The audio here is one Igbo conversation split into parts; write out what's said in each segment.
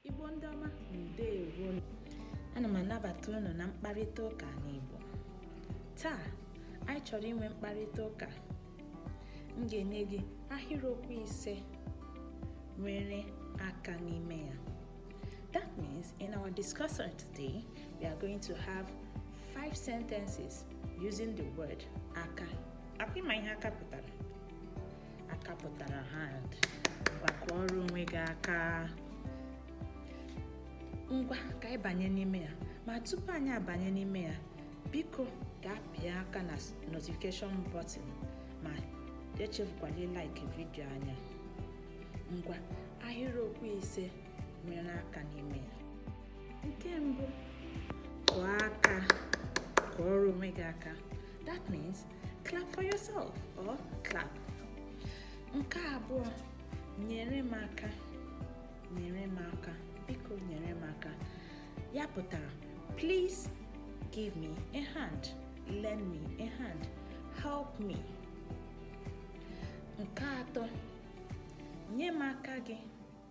Igbo ndị ọma ndewo ana m anabata unu na mkparịta ụka n'Igbo taa anyị chọrọ inwe mkparịta ụka m ga-enye gị ahịrịokwu ise nwere aka n'ime ya that means in our discussion today we are going to have five sentences using the word aka akwa ị ma ihe aka pụtara aka pụtara hand ngwa kụọrọ onwe gị aka ngwa ka anyị banye n'ime ya ma tupu anyị abanye n'ime ya biko gaa pịa aka na notification button ma echefukwala ịlike vidio anyị a ngwa ahịrịokwu ise nwere aka n'ime ya nke mbụ kụọ aka kụọrọ onwe gị aka that means clap for yourself or clap nke abụọ nyere m aka nyere m aka biko nyere m aka ya pụtara please give me a hand lend me a hand help me nke atọ nye m aka gị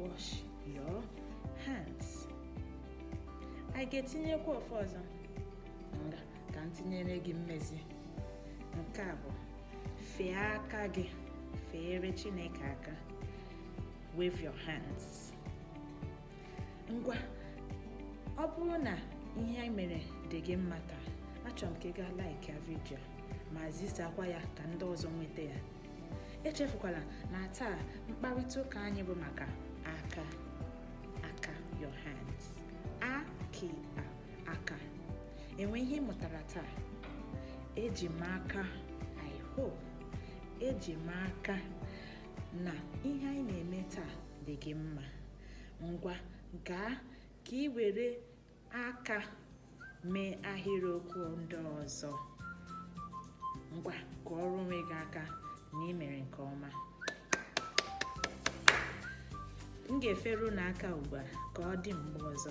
wash your hands anyị ga-etinyekwa ofu ọzọ nga ka m tinyere gị mmezi nke a bụ fee aka gị feere chineke aka wave your hands ngwa ọ bụrụ na ihe anyị mere dị gị mma taa achọrọ m ka ị gaa like ya vidio a ma zisakwa ya ka ndị ọzọ nweta ya echefukwala na taa mkparịta ụka anyị bụ maka aka aka your hands aki aka e nwee ihe ị mụtara taa eji m aka i hope eji m aka na ihe anyị na-eme taa dị gị mma ngwa gaa ka ị were aka mee ahịrịokwu ndị ọzọ ngwa kụọrọ onwe gị aka na ị mere nke ọma m ga-efere unu aka ugbu a ka ọ dị mgbe ọzọ